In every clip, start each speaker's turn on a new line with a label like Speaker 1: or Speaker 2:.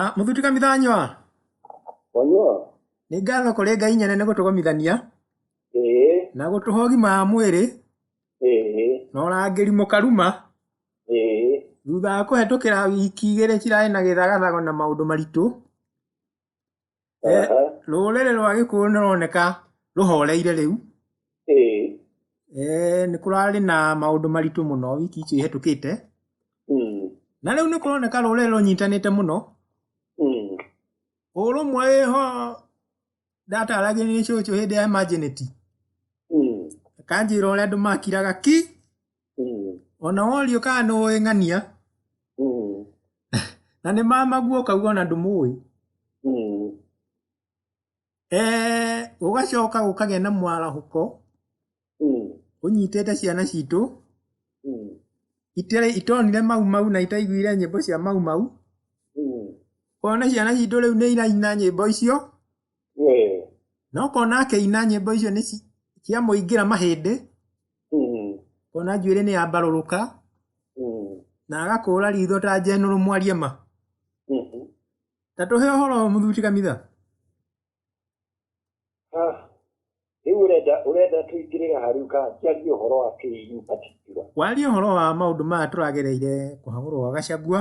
Speaker 1: Ah, mũthuti kamitha nywa Wanyua? nĩ ngatho kũrĩ ngai nyene nĩ gũtũgomithania Ee, na gũtũhe ũgima wa mwĩrĩ ee, na ũrangĩri mũkaruma ee. thutha wa kũhetũkĩra wiki igĩrĩ cirarĩ na gĩthagathago na maũndũ maritũ Eh, Aha. rũrĩrĩ rwa gĩkũyũ nĩ rũroneka rũhoreire rĩu Ĩĩ. Eh, nĩ kũrarĩ na maũndũ maritũ mũno wiki icio ihetũkĩte Mm. na rĩu nĩ kũroneka rũrĩrĩ rũnyitanĩte mũno Mm. ũrũmwe wĩho ndataragia nĩ cũcũ hĩndĩ ya emergency Mm. akanjĩra ũrĩa andũ makiraga ki Mm. ona worio kana nĩ ũĩ ng'ania Mm. na nĩ mamaguo ũkauga ona ndũmũĩ Mm. Eh, ũgacoka ũkagĩa na mwarahũko Mm. ũnyitĩte ciana citũ Mm. itarĩ itonire mau mau na itaiguire nyĩmbo cia mau mau Mm. ona ciana citũ rĩu nĩ iraina nyĩmbo icio Eh, no kona akĩina nyĩmbo icio nĩ ci- ciamũingĩra mahĩndĩ mm, kona njuĩrĩ nĩ yambarũrũka mm, na agakũra ritho ta njenũrũ mwaria ma mhm. ta tũhe ũhoro mũthuri kamitha Ah, rĩu ũrenda ũrenda tũingĩrĩre ha rĩu ka njarie ũhoro wa kĩinyupatikira warie ũhoro wa maũndũ maya tũragereire kũhagũrwo gwa gacagua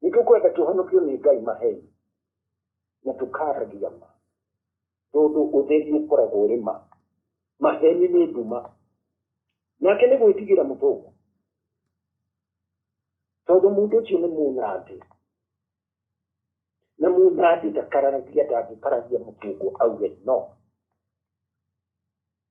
Speaker 1: Nĩ tũkwenda tũhonokio nĩ Ngai maheni na tũkaragia ma, tondũ ũtheri ũkoragwo ũrĩ ma. Maheni nĩ nduma. Nake nĩ gwĩtigĩra mũthũngũ, tondũ mũndũ ũcio nĩ mũnandĩ na mũnandĩ ndakararagia ndangĩkaragia mũthũngũ auge no.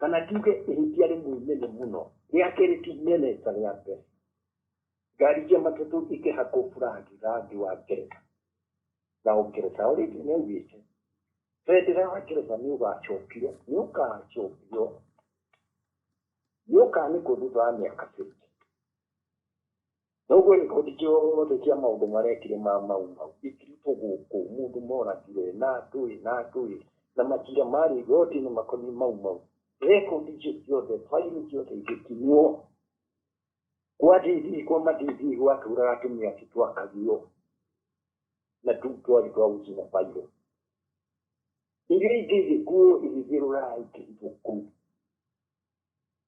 Speaker 1: kana tuge ihĩtia rĩmwe inene mũno rĩa kerĩ ti inene ta rĩa mbere ngari cia matatũ ikĩhakwo burangi rangi wa ngeretha na ũngeretha ũrĩa ingĩ nĩaugĩte bendera wa ngeretha nĩ ũgacokio nĩ ũgacokio nĩ ũkanĩkwo thutha wa mĩaka 50 Noguo riboti ciothe cia maũndũ marekire ma mau mau ikirutwo gũkũ, mũndũ moragire, na ndũĩ, na ndũĩ, na macira marĩ igoti-inĩ makoniĩ mau mau. Rekondi icio ciothe, bairũ ciothe igĩkinywo. Kwa DV, kwa ma-DV gwatũũraga atumia acio twakagio, na tũu twarĩ twa gũcina bairũ. Iria ingĩ igĩkuo igĩthiĩ Rũraya ikĩhithwo kũu.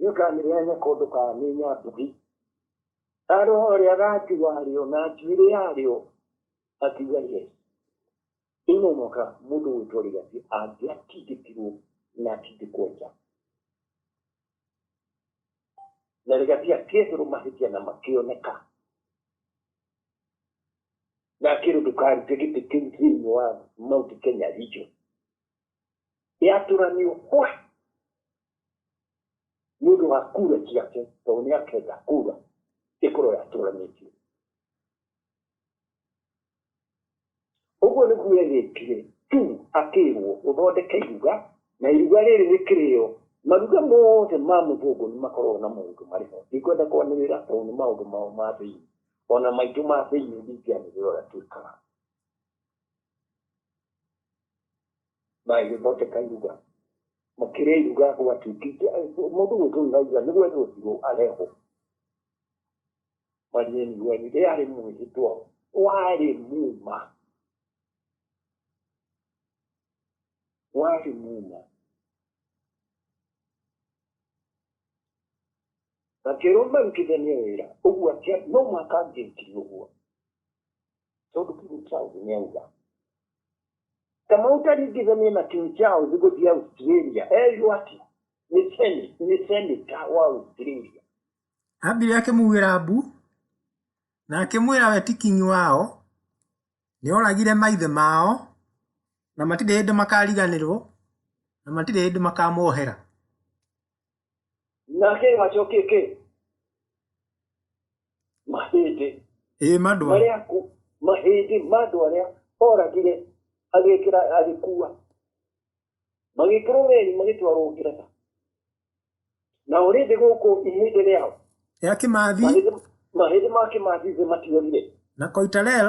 Speaker 1: nĩũkanĩheane kũndũ ka nĩ nyambugi arĩ ũrĩa gati warĩo na njuĩrĩ yarĩo akiuga ye ĩno mwaka mũndũ gwĩtwo rĩgati angĩatindĩkirwo na atindĩkwo nja na rĩgati akĩeherwo mahĩtia na makĩoneka na akĩrwo ndũkarute gĩtĩ kĩu thĩinĩ wa mount kenya region yatũranio kwa nĩ ũndũ wa kura ciake tondũ nĩ akenda kura ĩkorwo yatũranĩtio ũguo nĩguo egĩkire tu akĩrwo ũthondeke iruga na iruga rĩrĩ rĩkĩrĩo maruga mothe ma mũthũngũ nĩ makoragwo na maũndũ marĩ ho ndikwenda kwanĩrĩra tondũ nĩ maũndũ mao ma thĩinĩ ona maitũ ma thĩinĩ ndingĩanĩrĩra ũrĩa twĩkaga na ĩgĩthondeka iruga makĩrĩa iruga gwatuĩkĩte mũndũ gwĩtwo Elijah nĩ gwetwo thirũ arehwo manyeni gweni rĩarĩ mwĩhĩtwa warĩ muma warĩ muma na kĩrũme rutithania wĩra ũguo atia no mwaka angĩkiri ũguo Tsono kini chao zinyauza. Kama utanigiza mimi na kini chao ziko dia Australia. Eh, yuati. Nisemi, nisemi tawa Australia. Abiri akĩmuugĩra mbu na akĩmwĩra we ti kingi wao nĩoragire maithe mao na matirĩ hĩndĩ makariganĩrwo na matirĩ hĩndĩ makamohera. nake gacokio kä mahĩndĩ ĩĩ mandwa marĩa aku mahĩndĩ ma andũ arĩa oragire agĩkĩra agĩkua magĩkĩrwo weri magĩtwarwo ngeretha na ũrĩndĩ gũkũ ihĩndĩ rĩao ya kĩmathi mahĩndĩ mahĩndĩ ma kĩmathi thĩ matiorire na koitarel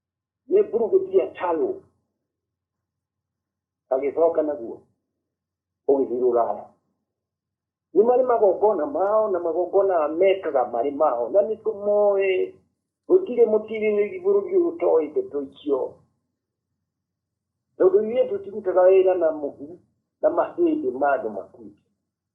Speaker 1: nĩ mburugĩtia calũ agĩcoka naguo ũgĩthiĩ rũraya nĩ marĩ magongona mao na magongona mekaga marĩ mao na nĩ tũmoĩ gũtirĩ mũtirĩrĩri bũrũri ũyũ ũtoĩ ndeto icio tondũ ithuĩ tũtirutaga wĩra na mũhu na mahĩndĩ ma andũ makuĩte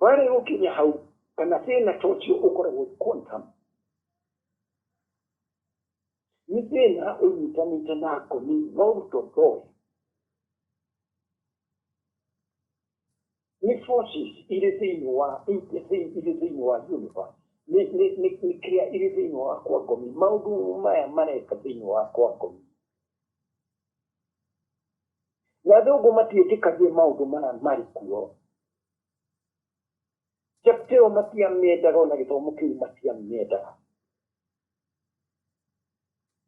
Speaker 1: Barĩ gũkinya hau, kana thĩna ta ũcio ũkoragwo quantum. Nĩ thĩna ũnyitanĩte na ngoni na ũruto thoe. Nĩ forces irĩ thĩinĩ wa irĩ thĩinĩ wa universe nĩ kĩrĩa irĩ thĩinĩ wa kwa ngomi maũndũ maya mareka thĩinĩ wa kwa ngomi na athũngũ matiĩtĩkagia maũndũ maya marĩ kuo chapta ĩyo matiamendaga ona gĩthomo kĩu matiamendaga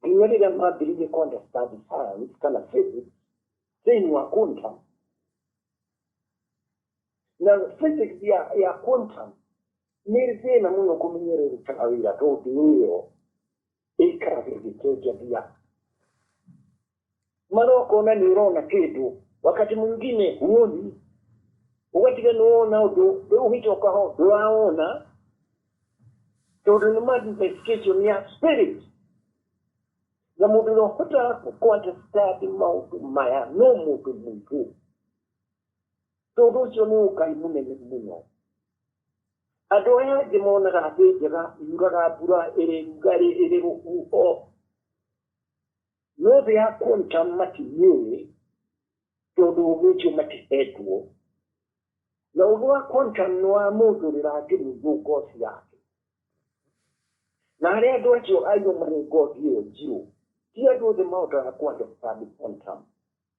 Speaker 1: nginya rĩrĩa mambĩrĩirie kondestadi science kana physics thĩinĩ wa quantum na physics ya, ya quantum nĩ thĩna mũno kũmenyererekaga wĩra tondũ ĩyo ĩikara gĩgĩcenjania mara ũkona nĩ ũrona kĩndũ wakati mwingine huoni ũgatiga nĩ wona ũndũ rĩu ũgĩcoka ho ndũrawona tondũ nĩ manifestation ya spirit na mũndũ ũrĩa ũhotaga kũandastandi maũndũ maya no mũndũ mũigũ Tondũ ũcio nĩ ũgai mũnene mũno. Andũ arĩa angĩ monaga thĩ njega yuraga mbura ĩrĩ rugarĩ ĩrĩ rũhuho, no thĩ ya quantum matimĩũĩ tondũ ũgĩ ũcio matihetwo. Na ũgĩ wa quantum nĩ wa mũndũ rĩra angĩmũigwo ngothi yake. Na harĩ andũ acio aigwo marĩ ngothi ĩyo njirũ, ti andũ othe mahotaga kũ understand quantum.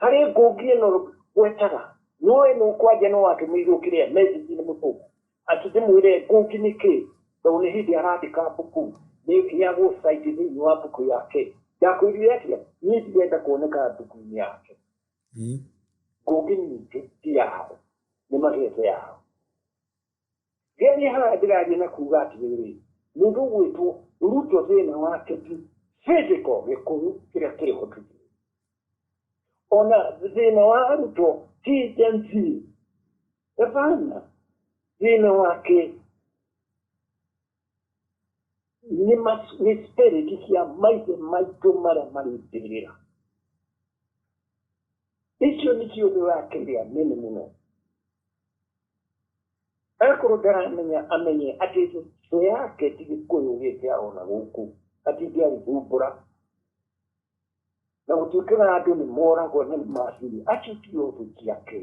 Speaker 1: harĩ ngũngi ĩno gwetaga nũĩ nũ kwanja no atũmĩirwo kĩrĩa message nĩ mũthũngũ ati ndĩmwĩre ngũngi nĩ kĩ tondũ nĩ hĩndĩ arandĩka mbuku nĩ heagwo site thĩinĩ wa mbuku yake ndakwĩrire atĩa niĩ ndirenda kuoneka mbuku-inĩ yake ngũngi nyingĩ ti yao nĩ magete yao Rĩrĩa niĩ Harani ndĩraria na kuuga atĩrĩrĩ, mũndũ ũgwĩtwo Ruto thĩna wake ti physical gĩkũyũ kĩrĩa kĩrĩ ho tũthiĩ. Ona thĩna wa Ruto ti Gen Z. Hapana. Thĩna wake nĩ mas- nĩ spirit cia maithe maitũ marĩa marĩ mbĩrĩra icio nĩ ciũndũ ũrakĩrĩa nene mũno akorwo ndaramenya amenye atĩ thũ yake ti gĩkũyũ gĩkĩarona gũkũ atindĩarithumbũra Na gũtuĩkĩra andũ nĩ moragwo nĩ macini, acio ti ũndũ ciake.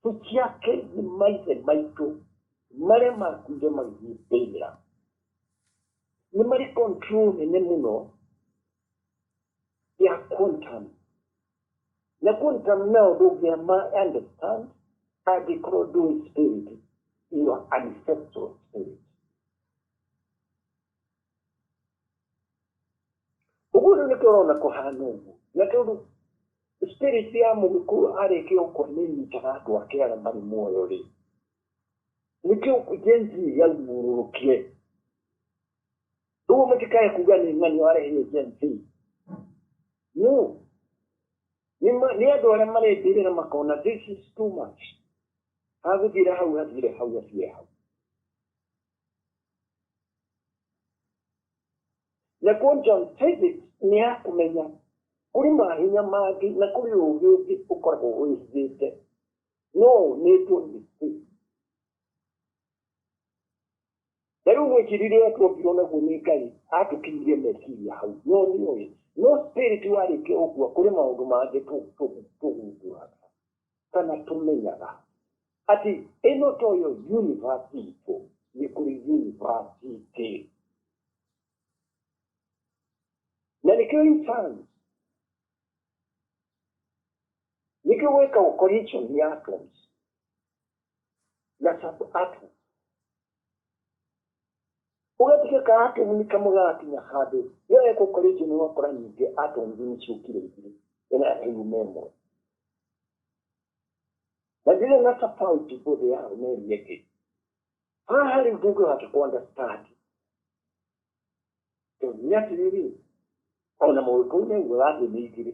Speaker 1: Ti ciake nĩ maithe maitũ marĩa makuire magĩthiĩ mbĩrĩra. Nĩ marĩ control nene mũno ya quantum. Na quantum nao ndũngĩama understand angĩkorwo ndũĩ spirit, your ancestral spirit. ũguo rĩu nĩ tũrona kũhana ũguo na tondũ spirit ya mũgĩkũyũ arĩkia gũkua nĩ nyitaga andũ ake arĩa marĩ muoyo rĩ nĩkĩo jenzi yaumũrũrũkire ũguo mũtikae kuga nĩ ng'ani warehire jenzi no nĩ ma- nĩ andũ arĩa marendĩrĩra makona this is too much hagũthire hau hathire hau hathire hau nakuo john david nĩ akũmenya kũrĩ mahinya mangĩ na kũrĩ ũũgĩ ũngĩ ũkoragwo wĩhithĩte no ũnĩtwo nĩ thĩ na rĩu mwĩcirire twombirwo naguo nĩ ngai atũkinyire meciria hau no nĩ ũĩ no spirit warĩkia ũguo kũrĩ maũndũ mangĩ tũgumbũraga kana tũmenyaga atĩ ĩno toyo yunivasiti itũ nĩ kũrĩ yunivasiti na nĩkĩo intanti nĩkĩo gwĩkagwo collision ya atoms na sub atoms Ũgetige ka atũng'uni kamwe gagakinya handũ yo eko karĩ njũnu ũgakora nyingĩ atũng'uni nĩ ciũkire igĩrĩ ĩno yakĩyuma ĩmwe na ndĩrĩ na tofauti bũthĩ yao na ĩrĩa ĩngĩ haha rĩu ndũngĩhota kũandastandi tondũ nĩ atĩrĩrĩ ona mũgĩkũyũ nĩ ugaga thĩ nĩ igĩrĩ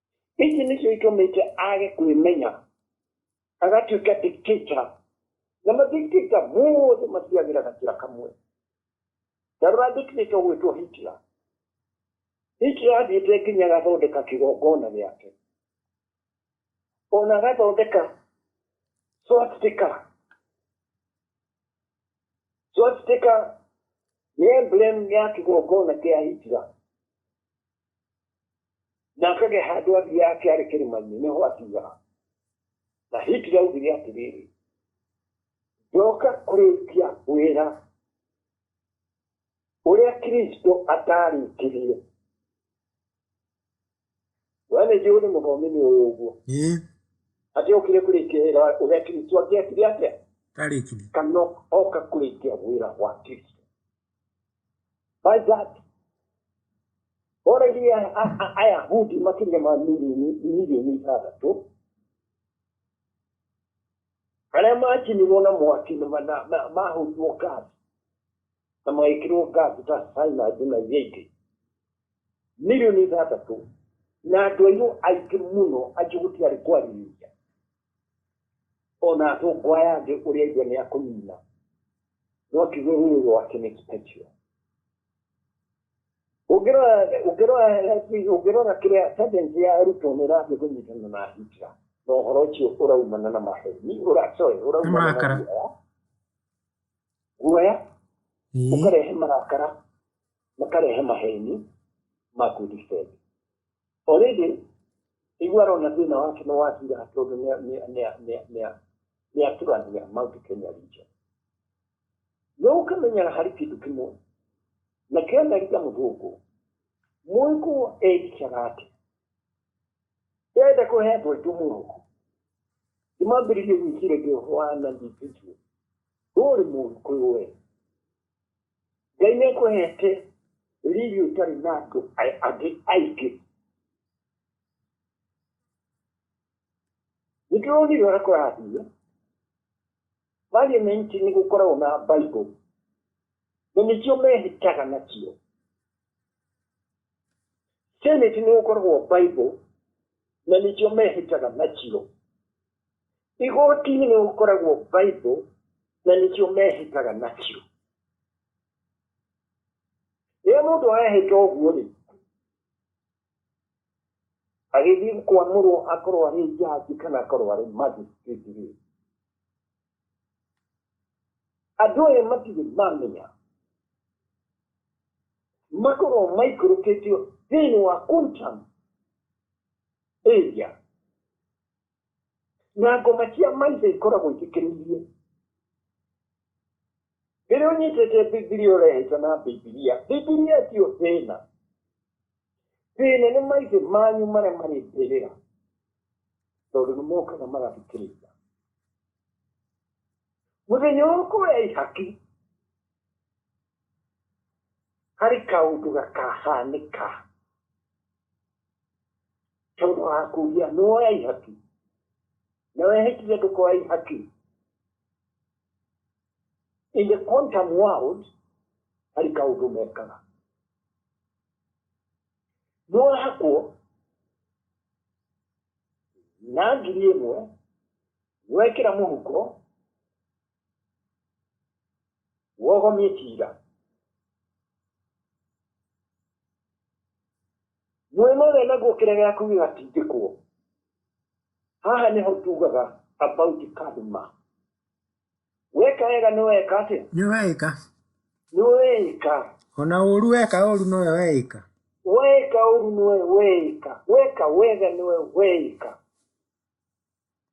Speaker 1: ici nĩcio itũmĩte age kwĩmenya agatuĩka dictator na madictator mothe mathiagĩra na kĩra kamwe ndarora dictator ũgwĩtwo hitler hitler athiĩte nginya agathondeka kĩgongona gĩake ona agathondeka swastika swastika nĩ emblem ya kĩgongona kĩa hitler na akagĩa handũ athiaga akĩarĩ kĩrĩma-inĩ nĩho atigaga na hitler augire atĩrĩrĩ ndoka kũrĩkia wĩra ũrĩa kristo atarĩkirie we nĩ njũĩ nĩ mũthomi nĩ ũyũ ũguo Eh, atĩ okire kũrĩkia wĩra wa- ũrĩa kristo angĩakire atĩa tarĩkire kana oka kũrĩkia wĩra wa kristo Why is that? Already Ayahudi makĩria ma milioni milioni ithathatũ arĩa makinirwo na mwaki na ma- na- na- mahũrirwo ngathi na magĩkĩrwo ngathi ta cyanide na iria ingĩ milioni ithathatũ na andũ airũ aingĩ mũno acio gũtiarĩ kwarĩrĩria ona atũngwa yangĩ ũrĩa ithe nĩ akũnina Rocky Ruru, Rocky meets Pinchio. Ũngĩrora ũngĩrora ũngĩrora kĩrĩa tendency ya arutwo nĩ ĩrathiĩ kũnyitana na hijra na ũhoro ũcio ũraumana na maheni ũra sorry ũraumana na Marakara. guoya guoya Ĩĩ. ũkarehe marakara makarehe maheni ma kũdefend Already iguo arona thĩna wake nĩ wathira tondũ nĩ aturania Mount Kenya region. No ũkamenyera harĩ kĩndũ kĩmwe na kena riga mũthũngũ mũĩkũ egicaga atĩ ndenda kũhe andũ aitũ mũhuko ndimambĩrĩrie gwĩciragia ũhoro wa nandi ndigio ndũrĩ mũru kwĩ we Ngai nĩ kũhete riri ũtarĩ na andũ angĩ aingĩ. Nĩ tũronire ũrĩa kũrathiĩ. Parliament nĩ gũkoragwo na Bible na nĩkĩo mehĩtaga nakĩo. Senate nĩ gũkoragwo Bible na nĩkĩo mehĩtaga nakĩo. Igoti-inĩ nĩ gũkoragwo Bible na nĩkĩo mehĩtaga nakĩo. Rĩrĩa mũndũ ahĩta ũguo rĩ, agĩthiĩ kwamũrwo akorwo arĩ njanji kana akorwo arĩ magistrate rĩ, andũ aya matirĩ mamenya makorwo maikũrũkĩtio thĩinĩ wa quantum area na ngoma cia maithe ikoragwo itikenirie rĩrĩa ũnyitĩte bibilia ũrehaita na bibilia bibilia tio thĩna thĩna nĩ maithe manyu marĩa marĩ mbĩrĩra tondũ nĩ mokaga magathikĩrĩria mũthenya ũkũ ya ihaki harĩ kaũndũ gakahanĩka Tondũ wa kuuria nĩ woya ihaki na wehĩtire ndũkoya ihaki. In the quantum world, harĩ kaũndũ mekaga. Nĩ wahakwo na ngiri ĩmwe wekĩra mũhuko wogomie kira Mwena ũrĩa naguo kĩrĩa gĩaku gĩgatindĩkwo. Haha nĩho tugaga about karma. Weka wega nĩ weka atĩa? Nĩ weĩka. Nĩ weĩka. Ona ũũru weka ũũru nĩwe weĩka. Weka ũũru nĩwe weĩka. Weka wega nĩwe weĩka.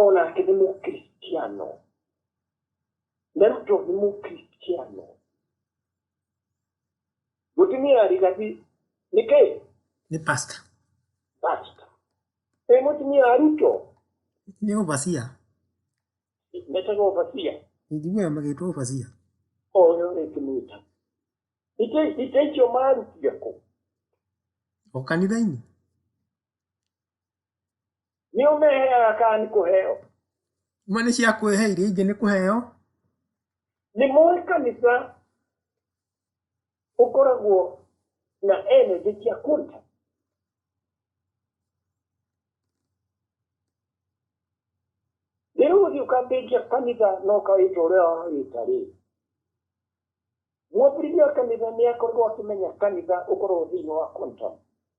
Speaker 1: O nake nĩ mũkristiano. Na rĩu John nĩ mũkristiano. Mũtumia arigathi nĩ kĩĩ? nĩ pasta Pasta. Ĩ mũtumia arutwo nĩ ũbacia metaga ũbacia. injiguaga magĩtwo ũbacia Oyo rĩngĩ mwĩta. Itĩ itĩ icio marutia kũ? o kanitha-inĩ Nĩ ũmeheaga kana nĩ kũheo? Imwe nĩ cia kwĩhe, iria ingĩ nĩ kũheo. Nĩ mũĩ kanitha ũkoragwo na energy cia kũruta? Rĩu ũthiĩ ũkambĩrĩria kanitha na ũkawĩta ũrĩa wawĩta rĩ, mwambĩrĩria wa kanitha nĩ akoragwo akĩmenya kanitha ũkoragwo thĩinĩ wa quantum.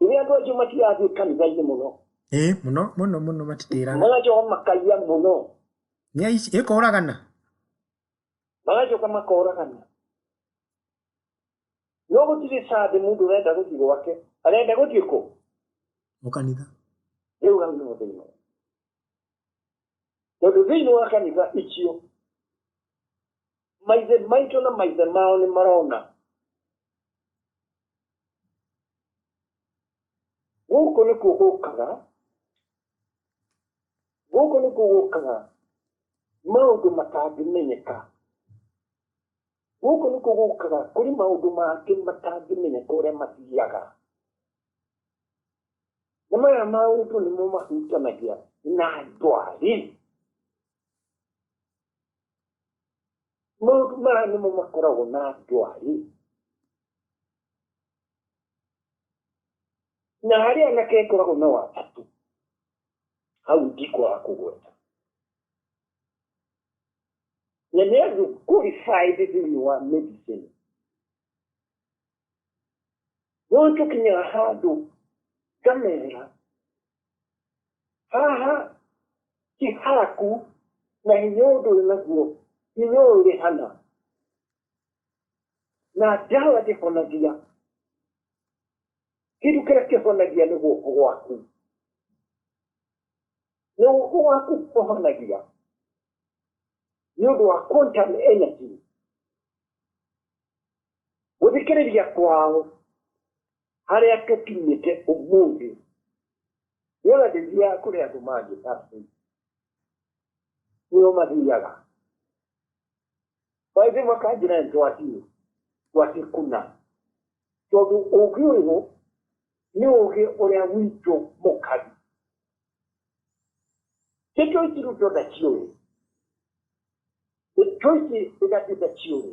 Speaker 1: rĩrĩa andũ acio matirathiĩ kanitha-inĩ mũno ĩ mũno mũno mũno matitĩraga magacoka makaiya mũno nĩ aici ĩkũragana magacoka makoragana no gũtirĩ sande mũndũ ũrenda gũthiĩ gwake arenda gũthiĩ kũ mũkanitha rĩu hau nĩ mũthĩna tondũ thĩinĩ wa kanitha icio maithe maitũ na maithe mao nĩ marona gũkũ nĩkuo gũkaga gũkũ nĩkuo gũkaga maũndũ matangĩmenyeka gũkũ nĩkuo gũkaga kũrĩ maũndũ mangĩ matangĩmenyeka ũrĩa mathiaga nĩ maya maũndũ nĩmo mahutanagia na ndwari maũndũ maya nĩmo makoragwo na ndwari na harĩ anake ĩkoragwo na watatũ hau ndikwaga kũgweta na nĩ andũ qualified thĩinĩ wa medicine no tũkinyĩra handũ ngamera haha ti haku na hinya ũyũ ndũrĩ naguo hinya ũyũ ũrĩ hana na ndawa ndĩhonagia kĩndũ kĩrĩa kĩhonagia nĩ guoko gwaku nĩ guoko gwaku kũhonagia nĩ ũndũ wa quantum energy gũthikĩrĩria kwao harĩa tũkinyĩte ũmũthĩ wona ndĩthia kũrĩ andũ mangĩ pastor nĩo mathiaga maithe makanjĩra nĩ twathiĩ twathiĩ kuna tondũ ũũgĩ ũyũ nĩ ũũgĩ ũrĩa witũ mũkari nĩ tũici rĩu ndona ciũĩ nĩ tũici ĩgatĩte ciũĩ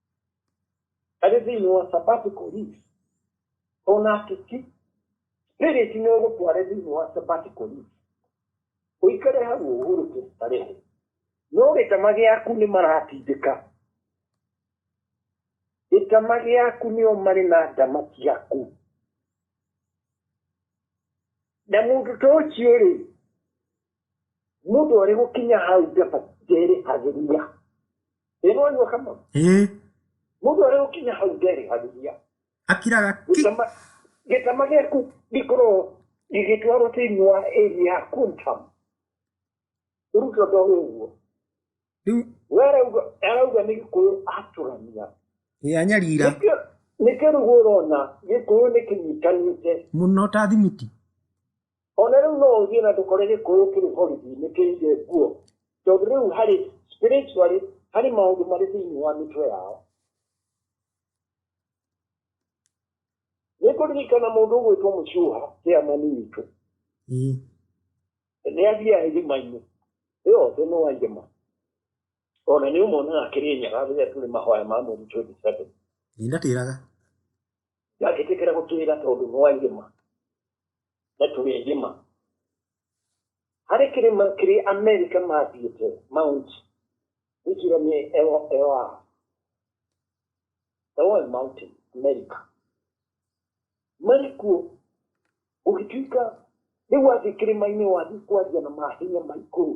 Speaker 1: That is in our sabbatical leave. On our to keep spirit in order to arrange in our sabbatical leave. Uikare hau uhuru kustarehe. No gĩtama gĩaku nĩ maratindĩka. Gĩtama gĩaku nĩo marĩ na ndama ciaku. Na mũndũ ta ũcio-rĩ, Mũndũ arĩ gũkinya hau njamba nderĩ agĩria. Ĩno anyua kama. Ĩĩ. Mũndũ arĩ gũkinya hau nderĩ agĩria. Akiraga ki. Gĩtama gĩaku gĩkorwo gĩgĩtwarwo thĩinĩ wa area ya Kuntam. Rĩu tondũ ũguo. Rĩu. We arauga nĩ gĩkũyũ atũrania. Ĩĩ anyarira. Nĩkĩo nĩkĩo rĩu ũrona gĩkũyũ nĩ kĩnyitanĩte. Mũno ta thimiti. o na rĩu no ũthiĩ na ndũkore gĩkũyũ kĩrĩ borithi nĩ kĩire nguo tondũ rĩu harĩ spiritually harĩ maũndũ marĩ thĩinĩ wa mĩtwe yao nĩ kũririkana mũndũ ũgwĩtwo mũcuha kĩamani witũ Mm. nĩ athiaga irima-inĩ ĩyo thĩ nĩ wa irima ona nĩ ũmonaga akĩrĩ nyaga rĩrĩa tũrĩ mahoya ma mweri 27 Nĩ ndatĩraga. Ndangĩtĩkĩra gũtwĩra tondũ nĩ wa irĩma na tũrĩ irĩma. Harĩ kĩrĩma kĩrĩ Amerika mathiĩte Mount Wikira nĩ ewa Eoy Mountain Amerika. Marĩ kuo ũgĩtuĩka rĩu wathiĩ kĩrĩma-inĩ wathiĩ kwaria na mahinya ma igũrũ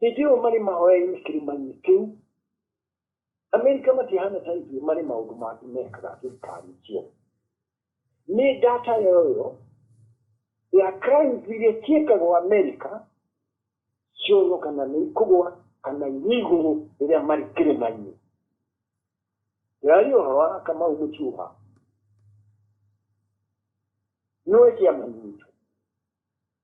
Speaker 1: Hĩndĩ ĩyo marĩ mahoya-inĩ kĩrĩma-inĩ kĩu, Amerika matihana ta ithuĩ marĩ maũndũ mangĩ mekaga thirikari icio. Nĩ data yoyo ya crimes iria ciĩkagwo Amerika cionwo kana nĩ ikũgwa kana irĩ igũrũ rĩrĩa marĩ kĩrĩma-inĩ. Ndĩraria ũhoro wa Kamau Mũcuha. Nĩwe kĩama gitũ.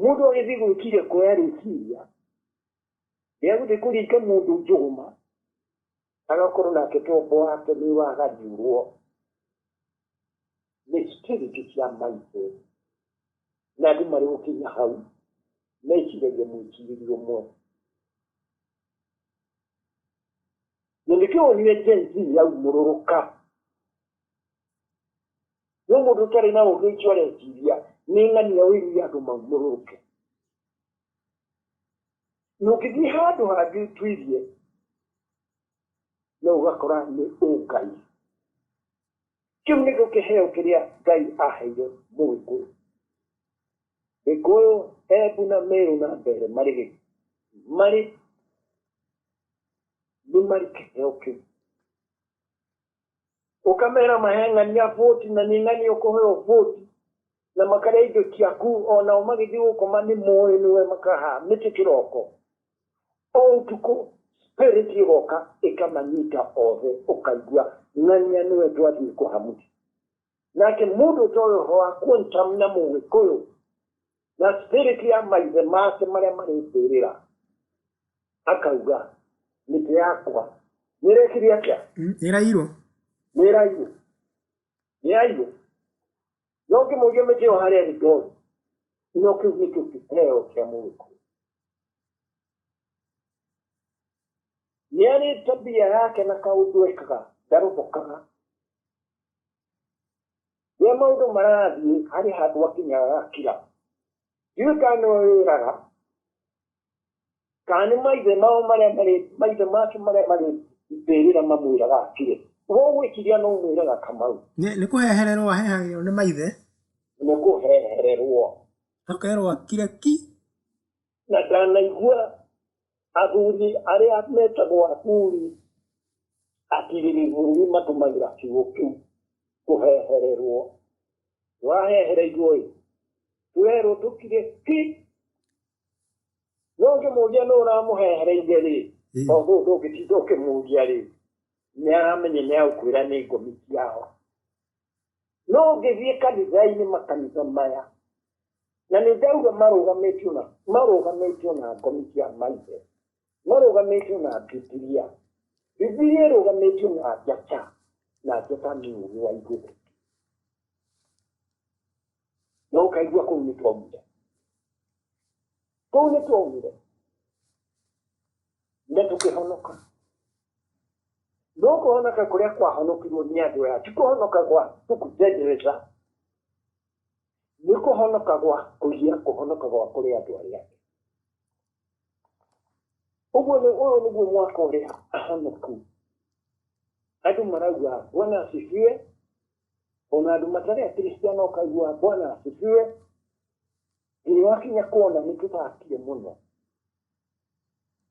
Speaker 1: mũndũ agĩthiĩ gwĩkire ngoya rĩciria rĩa gũthiĩ kũringa mũndũ njũgũma agakorwo nake tombo wake nĩ wagariũrwo nĩ spirit cia maithe na andũ marĩ gũkinya hau meciragia mwĩcirĩrie ũmwe na nĩkĩo wonire Gen Z yaumũrũrũka no mũndũ ũtarĩ na ũgĩ ũcio areciria nĩ ng'ani ya ũiru ya andũ maumũrũke na ũngĩthiĩ handũ hangĩ ũtuirie no ũgakora nĩ ũngai kĩu nĩkĩo kĩheo kĩrĩa ngai aheire mũgĩkũyũ gĩkũyũ embu na merũ na mbere marĩ gĩ- marĩ nĩ marĩ kĩheo kĩu Ũkameera mahe ng'ani ya vote na nĩ ng'ani ũkũheo vote na makarĩa indo ciaku o nao magĩthiĩ gũkoma nĩ moĩ nĩwe makaha mĩtĩ kĩroko. O ũtukũ spirit ĩgoka ĩkamanyita othe ũkaigua ng'ania nĩwe twathiĩ kũha mũtĩ. Nake mũndũ ũtoĩ ũhoro wa quantum na mũgĩkũyũ na spirit ya maithe make marĩa marĩ mbĩrĩra akauga mĩtĩ yakwa nĩ ĩrekire atĩa Mm, ĩrairwo nĩ ĩrairwo nĩ yairwo no ngĩmũria mĩtĩ ĩyo harĩa ĩrĩ ndori no kĩu nĩkĩo kĩheo kĩa mũgĩkũyũ nĩ arĩ tabia yake na kaũndũ ekaga ndarũthũkaga Rĩrĩa maũndũ marathiĩ harĩ handũ akinyaga agakira. Ndiũĩ kana nĩwe wĩraga kana nĩ maithe mao marĩa marĩ maithe make marĩa marĩ mbĩrĩra mamwĩraga akire. We ũgwĩciria no mwĩraga Kamau? Nĩ nĩ kũhehererwo ahehererwo nĩ maithe, Nĩ kũhehererwo. akerwo akire ki. na ndanaigua athuri arĩa metagwo athuri atirĩrĩru nĩ matũmagĩra kiugo kĩu kũhehererwo wahehereirwo ĩ werwo tũkire ki no ũngĩmũria nũ ũramũhehereire rĩ Mm. tondũ ndũngĩtinda ũkĩmũria rĩ nĩ aramenye nĩ agũkwĩra nĩ ngomi ciao No ũngĩthiĩ kanitha-inĩ makanitha maya, na nĩ ndauga marũgamĩtio na marũgamĩtio na ngomi cia maithe, marũgamĩtio na Bibilia. Bibilia ĩrũgamĩtio na njata, na njata nĩ ũũgĩ wa igũrũ. Na ũkaigua kũu nĩ twaumire. Kũu nĩ twaumire. Na tũkĩhonoka. no kũhonoka kũrĩa kwahonokirwo nĩ andũ aya ti kũhonoka gwa tũkũtendereza nĩ kũhonoka gwa kũgia kũhonoka gwa kũrĩ andũ arĩa ũguo nĩ ũyũ nĩguo mwaka ũrĩa ahonoku andũ marauga bwana asifiwe ona andũ matarĩ akristiano ũkaigua bwana asifiwe nginya wakinya kuona nĩ tũthakie mũno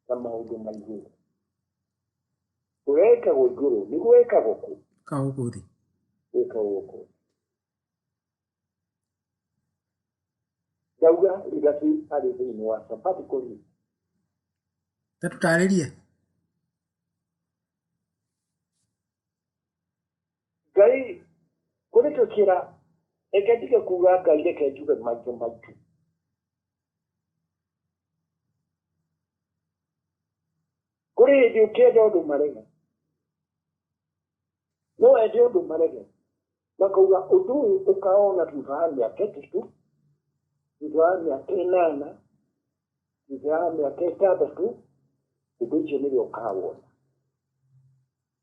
Speaker 1: na maũndũ ma igũrũ gwekagwo igũrũ nĩ gwekagwo kũ kaũgũ thĩ gwekagwo kũ ndauga igaci arĩ thĩinĩ wa sabati kũri tatũtarĩrie ngai kũrĩtũkĩra reke ndige kuga ngai reke njuge maitũ maitũ kũrĩ hĩndĩ ũkĩenda ũndũ marege no wende ũndũ marege makauga ũndũ ũyũ ũkaona thutha wa mĩaka ĩtatũ thutha wa mĩaka ĩnana thutha wa mĩaka ĩtandatũ ũndũ ũcio nĩwe ũkawona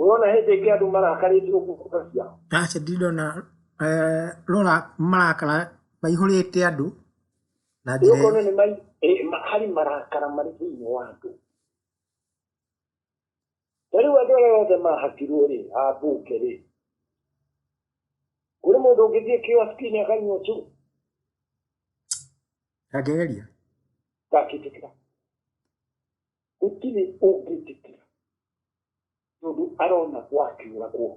Speaker 1: Ũrona hĩndĩ ĩngĩ andũ marakarĩte ũguo kura ciao? Aca ndindona eh, rora marakara maihũrĩte andũ na njĩra Ũkona nĩ mai eh, ma- harĩ marakara marĩ thĩinĩ wa andũ. Na rĩu andũ arĩa othe mahatirwo rĩ, a mbunge rĩ, kũrĩ mũndũ ũngĩthiĩ kioski-inĩ akanyua tu ndangĩgeria ndakĩtĩkĩra. gũtirĩ ũngĩtĩkĩra tondũ arona gwakĩũragwo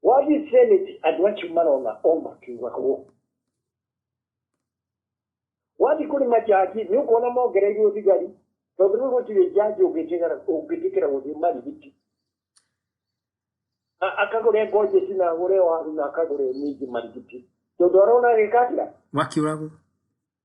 Speaker 1: wathiĩ seneti andũ acio marona o makĩũragwo wathiĩ kũrĩ majaji nĩ ũkuona mongereirwo thigari tondũ rĩu gũtirĩ jaji ũngĩtĩkĩra gũthiĩ marigiti akagũre ngojeti na agũre waru na akagũre minji marigiti tondũ arona agĩkakĩra wakiũragwo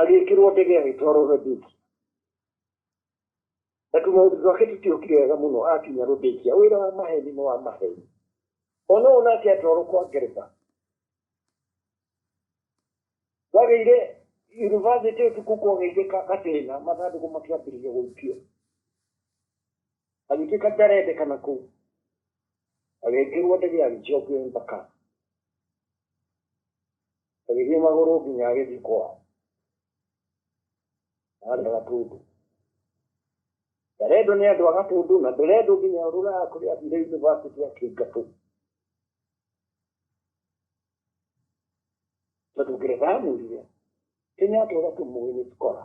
Speaker 1: agĩkĩrwo ndege agĩtwarwo Rhodesia na tu maũndũ twake tũtiokire wega mũno akinya Rhodesia wĩra wa maheni nĩ wa maheni ona ũũ nake atwarwo kwa ngeretha wagĩire yunivasĩtĩ ũtukũ kwagĩire gathĩna mathandũkũ makĩambĩrĩria gũikio agĩtuĩka ndarendekana kũu agĩkĩrwo ndege agĩcokio embakasi agĩthiĩ magũrũ nginya agĩthiĩ kwao arĩ a gatũndũ ndarendwo nĩ andũ a gatũndũ na ndũrendwo nginya rũraya kũrĩa athire yunivasĩtĩ akĩingatwo tondũ ngeretha amwĩrire kenyatta ũgatũmũĩ nĩ skora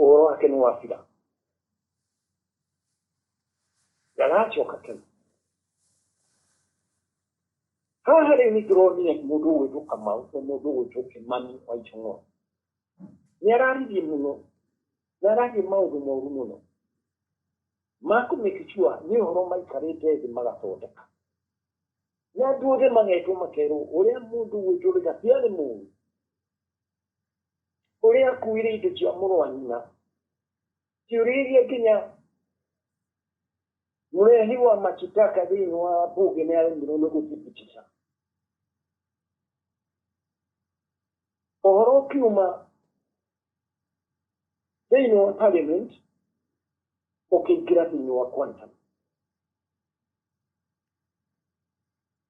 Speaker 1: ũhoro wake nĩ wa bira ndagacoka tene haha rĩu nĩ ndĩronire mũndũ ũgwĩtwo kamau na mũndũ ũgwĩtwo kĩmani wa ichong'o nĩ araririe mũno nĩ ararie maũndũ moru mũno makũmake sure nĩ ũhoro maikarĩte thĩ magathondeka na andũ othe magetwo makerwo ũrĩa mũndũ ũgwĩtwo rĩga tiarĩ mũru Ũrĩa akuire indo cia mũrũ wa nyina. Ciũrĩirie nginya mũrehi wa machitaka thĩinĩ wa mbunge nĩ aremirwo nĩ gũthibitisha ũhoro ũkiuma thĩinĩ wa parliament ũkĩingĩra thĩinĩ wa quantum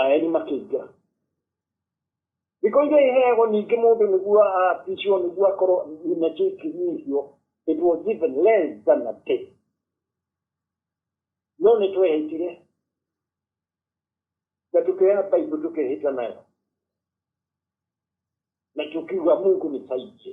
Speaker 1: aeni makĩingĩra thikũ iria iheagwo ningĩ mũndũ nĩguo aapishwo nĩguo akorwo nina kĩu kĩnyihio it was even less than a day no nĩ twehĩtire na tũkĩoya baibu tũkĩhĩta nayo na tũkiuga mungu nĩ saingĩ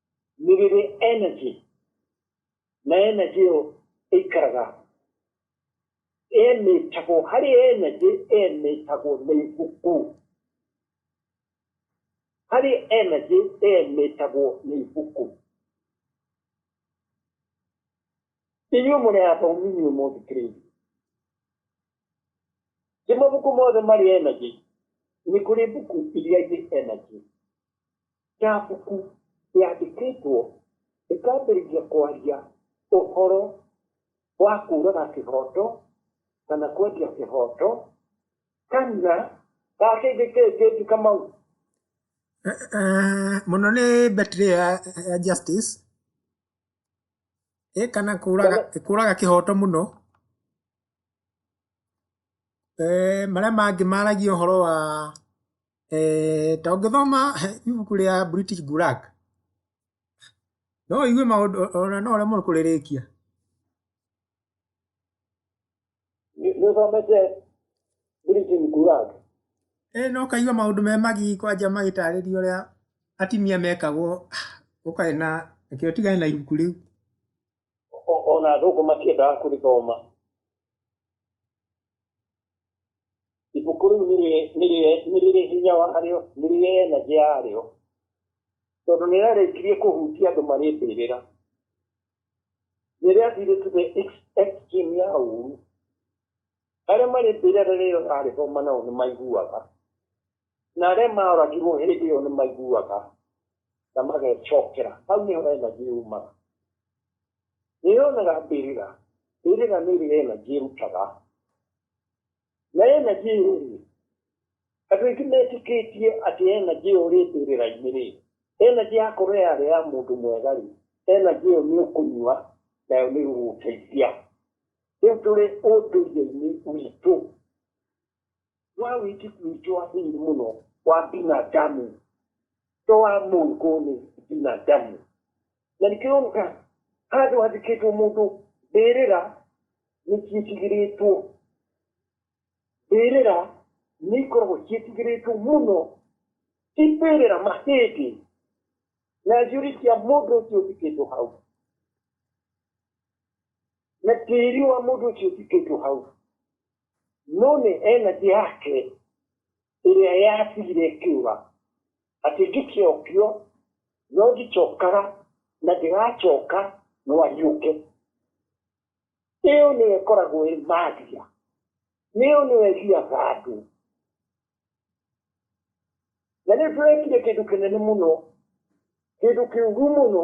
Speaker 1: nĩ rĩrĩ energy na energy ĩyo ĩikaraga emĩtagwo harĩ energy emĩtagwo nĩ ibuku harĩ energy emĩtagwo nĩ ibuku inyuĩ mũrĩ athomi inyuĩ mũthikĩrĩirie ti mabuku mothe marĩ energy nĩ kũrĩ buku iria irĩ energy ya buku yandĩkĩtwo ĩkambĩrĩria kwaria ũhoro wa kũũraga kĩhoto kana kwendia kĩhoto kana gakĩngĩkĩngĩti kamau Eh, eh, mũno nĩ betri ya, ya justice ĩ kana kũraga kũraga kĩhoto mũno Marĩa mangĩ maragia ũhoro wa, ta ũngĩthoma ibuku rĩa British Gullag, no ũigue maũndũ ona no ũremwo nĩ kũrĩrĩkia. Nĩũthomete British Gullag? Ĩĩ na ũkaigua maũndũ me magigi kwanja magĩtarĩria ũrĩa atumia mekagwo ũkae na, reke ũtigane na ibuku rĩu. ona athũngũ matiendaga kũrĩthoma ibuku rĩu nĩ rĩrĩ hinya warĩo nĩ rĩrĩ energy yarĩo tondũ nĩ rĩarĩkirie kũhutia andũ marĩ mbĩrĩra nĩ rĩathire to the extreme ya ũru arĩa marĩ mbĩrĩra rĩrĩa ũrarĩthoma nao nĩ maiguaga Na arĩa maoragirwo hĩndĩ ĩyo nĩ maiguaga na magecokera. Hau nĩho energy yumaga. Nĩ yonaga mbĩrĩra. Mbĩrĩra nĩ ĩrĩ energy ĩrutaga. Na energy ĩyo rĩ, andũ aingĩ metĩkĩtie atĩ energy ĩyo ĩrĩ mbĩrĩra-inĩ rĩ, energy yakorwo yarĩ ya mũndũ mwega rĩ, energy ĩyo nĩ ũkũnyua nayo nĩ ĩgũgũteithia. Rĩu tũrĩ ũndũire-inĩ witũ. wa wĩtĩku witũ wa thĩinĩ mũno wa binadamu to wa mũngu nĩ binadamu na nĩkĩroneka handũ handĩkĩtwo mũndũ mbĩrĩra nĩ ciĩtigĩrĩtwo mbĩrĩra nĩ ikoragwo ciĩtigĩrĩtwo mũno ti mbĩrĩra mahĩndĩ na njũri cia mũndũ ũcio ũtikĩtwo hau na tĩri wa mũndũ ũcio ũtikĩtwo hau no nĩ energy yake ĩrĩa yatigire ĩkiuga atĩ ngĩkiokio no ndicokaga na ndĩracoka no ariũke ĩyo nĩyo ĩkoragwo ĩ magia nĩyo nĩyo ĩgiaga andũ na rĩu tũrekire kĩndũ kĩnene mũno kĩndũ kĩũru mũno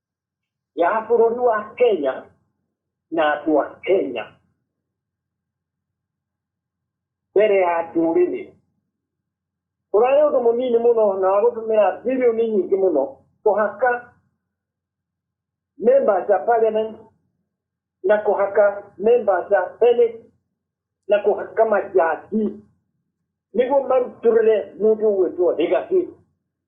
Speaker 1: ya bũrũri wa kenya na andũ a kenya mbere ya ndũrĩrĩ ũrarĩ ũndũ mũnini mũno na wagũtũmĩra bilioni nyingĩ mũno kũhaka members a parliament na kũhaka members a senate na kũhaka majati nĩguo marutũrĩre mũndũ ũgwĩtwo legacy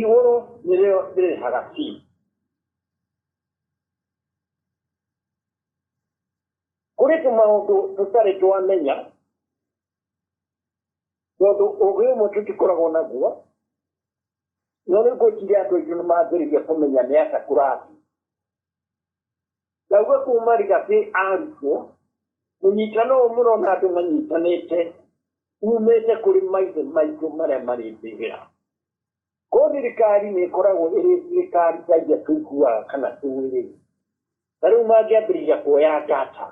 Speaker 1: Igũrũ nĩrĩo rĩrĩhaga fee. Kũrĩ tũmaũndũ tũtarĩ twamenya, tondũ ũgĩ ũmwe tũtikoragwo naguo, no rĩu ngwĩciria andũ aitũ nĩ mambĩrĩria kũmenya nĩ atĩa kũrathiĩ. Ndauga kuma rigathĩ arutwo, mũnyitano ũyũ mũrona andũ manyitanĩte umĩte kũrĩ maithe maitũ marĩa marĩ mbĩgĩra. Ko thirikari nĩ ĩkoragwo ĩrĩ thirikari ta iria tũiguaga kana tũĩ rĩ, ta rĩu mangĩambĩrĩria kuoya data,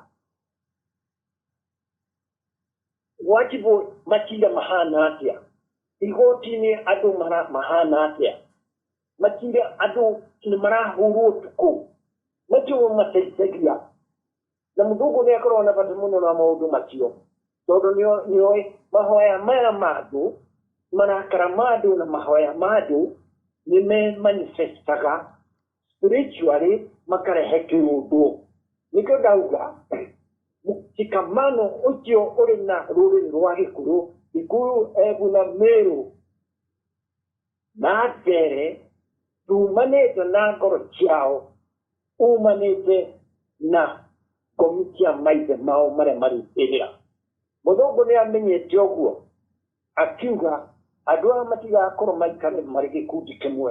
Speaker 1: wajibũ matinda mahana atĩa igoti-inĩ andũ mara- mahana atĩa matinda andũ nĩ marahũrwo ũtukũ macio nĩ mateithagia na mũthũngũ nĩ akoragwo na bata mũno na maũndũ macio tondũ nĩo- nĩoĩ mahoya maya ma andũ marakara ma andũ na mahoya ma andũ nĩ me manifestaga spiritually makarehekĩũndwo nĩkĩo ndauga mshikamano ũcio ũrĩ na rũrĩrĩ rwa gĩkũyũ gĩkũyũ ebu na mĩrũ na mbere tumanĩte na ngoro ciao umanĩte na ngomi cia maithe mao marĩa marĩ ĩrĩa mũthũngũ nĩ amenyete ũguo akiuga andũ aya matigakorwo maikare marĩ gĩkundi kĩmwe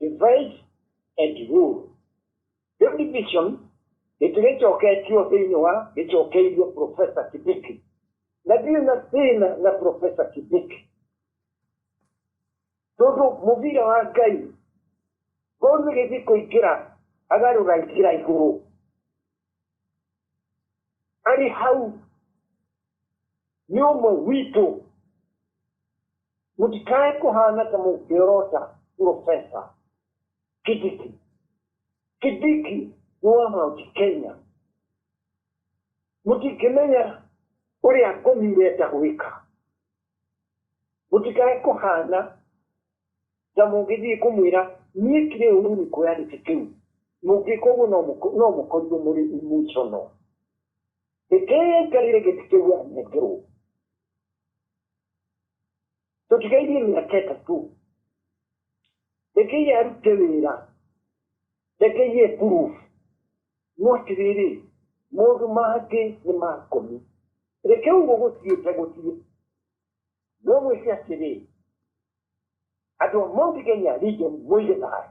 Speaker 1: divide and rule Great division gĩtigĩcoketio thĩinĩ wa gĩcokeirio profesa kibiki na ndirĩ na thĩna na profesa kibiki tondũ mũbira wa ngai ngori gĩthiĩ kũingĩra agarũra njĩra igũrũ arĩ hau nĩ ũmwe witũ Mũtikae kũhaana ta mũngĩorota Purobesa Kidiki. Kidiki nĩ wa Mount Kenya. Mũtingĩmenya ũrĩa ngomi irenda gwĩka. Mũtikae kũhaana ta mũngĩthiĩ kũmwĩra niĩ kirĩ ũru nĩ kuoya gĩtĩ kĩu. Mũngĩka ũguo no mũko- no mũkorirwo mũrĩ emotional. Rekei aikarĩre gĩtĩ kĩu anengerwo. tũtigairie mĩaka ĩtatũ rekei arute wĩra rekei e proof no atĩrĩrĩ mũndũ mangĩ nĩ makomi reke ũguo gũtiĩte gũtirĩ no mwĩke atĩrĩ andũ a Mount Kenya region mũige thayũ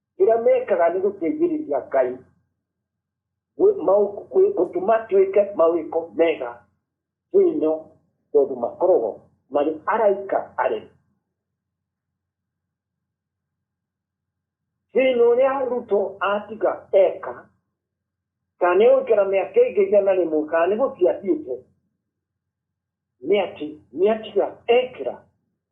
Speaker 1: ĩrĩa mekaga nĩ gũteithĩrĩria ngai gũtũma twĩke mawĩko mega thĩinyo tondũ makoragwo marĩ araika arĩa thĩinyo ũrĩa ruto atiga eka kana nĩ gũikara mĩaka ĩngĩ igana rĩmwe kana nĩ gũtiathiĩte nĩ atĩ nĩ atiga ekĩra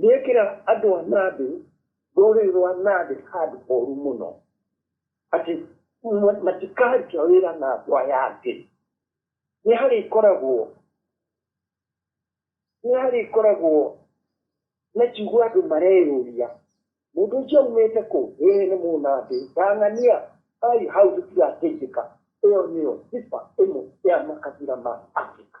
Speaker 1: Nĩekĩra andũ a Nabe, rũrĩrĩ rwa Nabe, handũ horu mũno, atĩ ma- matikaruta wĩra na ngwa yake. Nĩharĩkoragwo nĩharĩkoragwo na kiugo andũ mareyũria, mũndũ ũcio aumĩte kũ? Ĩĩ nĩ mũnabii, ndang'ania, ai hau tũtigateithĩka. Ĩyo nĩyo sifa ĩmwe ya makabira ma Afrika.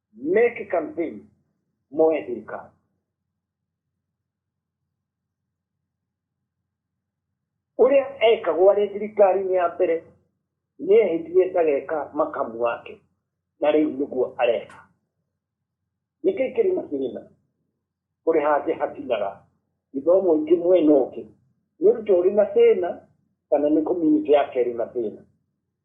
Speaker 1: make campaign moya thirikari ũrĩa ekagwo arĩ thirikari-inĩ ya mbere nĩ ehĩtie ndageka makamu wake na rĩu nĩguo areka nĩkĩ kĩrĩma kĩrĩma kũrĩ hangĩ hatinaga gĩthomo ingĩ mwena ũngĩ nĩ ũrutwo ũrĩ na thĩna kana nĩ community yake ĩrĩ na thĩna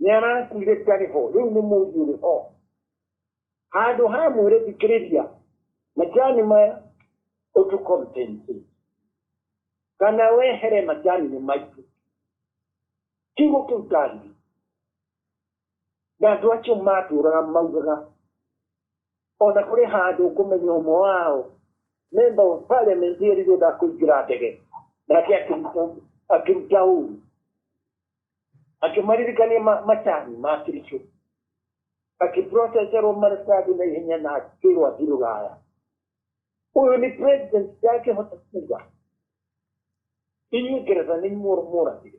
Speaker 1: nĩ arakuire ndarĩ ho rĩu nĩ mũriũ rĩ ho handũ ha mwĩre thikĩrĩria macani maya ũtũkompensi kana wehere macani nĩ maitũ kiugo kĩu ndaririe na andũ acio matũraga maugaga ona kũrĩ handũ ngũmenya ũmwe wao memba wa parliament erire ndakũingĩra ndege nake akĩruta ũru akĩmaririkania ma- macani ma kirico akĩproceserwo maratathi na ihenya na akĩrwo athiĩ rũraya ũyũ nĩ president ndangĩhota kuga inyuĩ ngeretha nĩ inyuĩ mũragire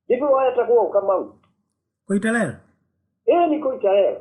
Speaker 1: ndivyo wayatagwo ukamau Koitalel. ĩyo nĩ koitarero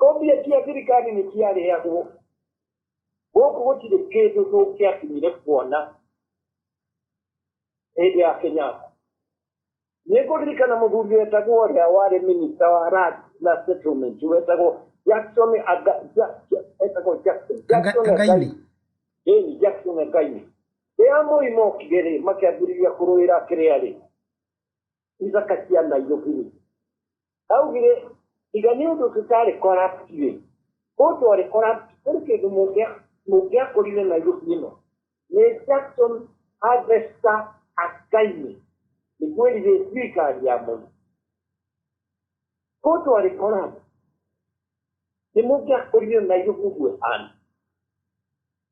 Speaker 1: Kopiya kya thirikari nĩ kĩarehagwo gũkũ gũtirĩ kĩndũ tũngĩakinyire kuona hĩndĩ ya Kenyatta. Nĩ ngũririkana mũthuri wetagwo ũrĩa warĩ minista wa land na settlement wetagwo Jackson Aga, ja, ja, wetagwo Jackson Jackson Againi. Ĩni Jackson Againi. Rĩrĩa mũi mokire rĩ makĩambĩrĩria kũrũĩra kĩrĩa rĩ isaka cia nairobi-rĩ augire tiga nĩ ũndũ tũtarĩ corrupt-rĩ kũndũ arĩ corrupt kũrĩ kĩndũ mũngĩa- mũngĩakũrire nairobi ĩno nĩ jackson harvester akainĩ nĩ kwĩrire thirikari ya moi kũndũ arĩ corrupt nĩ mũngĩakũrire nairobi ũguo hana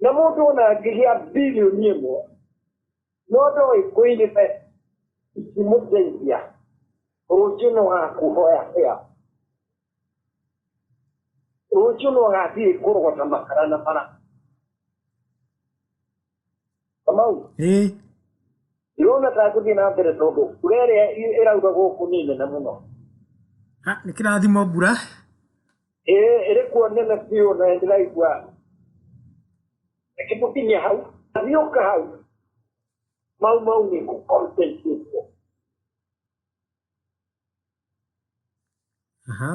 Speaker 1: na mũndũ ũna angĩgĩa bilioni ĩmwe no ndoĩ kũirĩte ikimũteithia rũciũ no gakuhoya hĩa rũciũ no gathiĩ kũrogota makara na bara kamau ĩ ndĩrona ta ngũthiĩ na mbere tondũ mbura ĩrĩa ĩ- ĩraura gũkũ nĩ nene mũno ha, nĩ kĩrathimo mbura ĩĩ ĩrĩ kuo nene biũ na ndĩraigua ĩkĩmũkinyia hau athiũka hau mau mau nĩ kũkontentuo aha